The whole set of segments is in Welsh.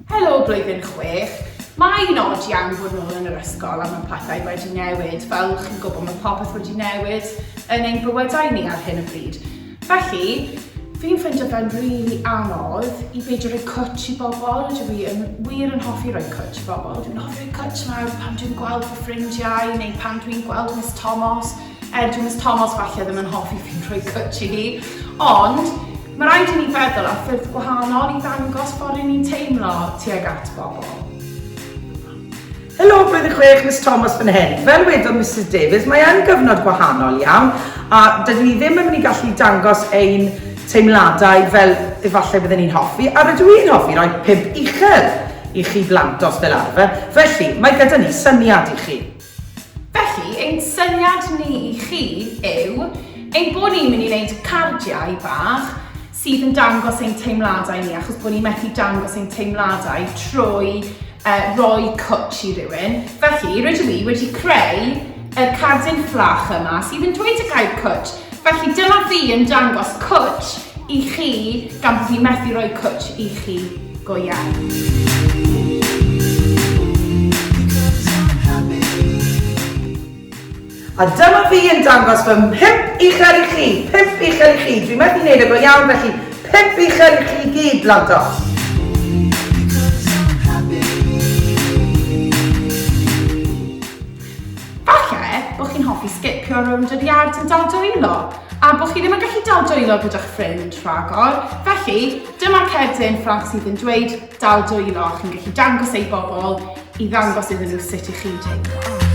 Helo blwyddyn chwech! Mae'n od iawn bod nôl yn yr ysgol a mae pethau wedi newid. Fel chi'n gwybod mae popeth wedi newid yn ein bywydau ni ar hyn o bryd. Felly, fi'n ffeindio fe'n rili really anodd i beidio rhoi cwtch i bobl. Dwi fi yn wir yn hoffi rhoi cwtch i bobl. Dwi'n hoffi rhoi cwtch mawr pan dwi'n gweld fy ffrindiau neu pan dwi'n gweld Miss Thomas. Edw Miss Tomos falle ddim yn hoffi fi'n rhoi cwtch i hi, ond mae rhaid i ni feddwl ar ffyrdd gwahanol i ddangos bod ni'n teimlo tuag at bobl. Helo, blwyddyn chwech, Miss Thomas fan hyn. Fel wedodd Mrs Davies, mae yn gyfnod gwahanol iawn a dydyn ni ddim yn mynd i gallu dangos ein teimladau fel efallai byddwn ni'n hoffi a rydw i'n hoffi roi pimp uchel i chi blant os fel arfer. Felly, mae gyda ni syniad i chi. Felly, ein syniad ni i chi yw ein bod ni'n mynd i wneud cardiau bach sydd yn dangos ein teimladau ni, achos bod ni methu dangos ein teimladau trwy uh, roi cwtch i rywun. Felly, rydw i wedi creu y cardyn fflach yma sydd yn dweud y gair cwtch Felly dyma fi yn dangos cwtsh i chi gan bod fi methu rhoi cwtsh i chi go iawn. A dyma fi yn dangos fy mhump uchel i chi, pump uchel i chi, dwi methu neud e go iawn felly pump uchel i chi gyd blantos. Falle bod chi'n hoffi sgipio rownd yr iard yn dal dwylo, a bod chi ddim yn gallu dal dwylo gyda'ch ffrind rhagor, felly dyma cerdyn fflat sydd yn dweud dal dwylo a chi'n gallu dangos ei bobl i ddangos iddyn nhw sut i chi deimlo.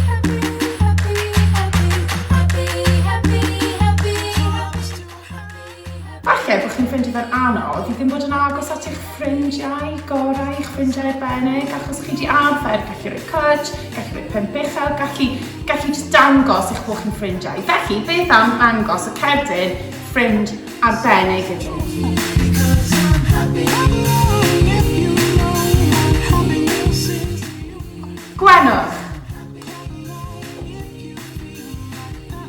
Falle bod chi'n ffeindio fe'n anodd i ddim bod yn agos at eich ffrindiau gorau, eich ffrindiau arbennig, achos chi di arfer gallu rhoi cwtsh, gallu rhoi pen bechel, gallu, gallu just dangos eich bod chi'n ffrindiau. Felly, beth am ddangos y cerdyn ffrind arbennig iddyn nhw? Gwenwch!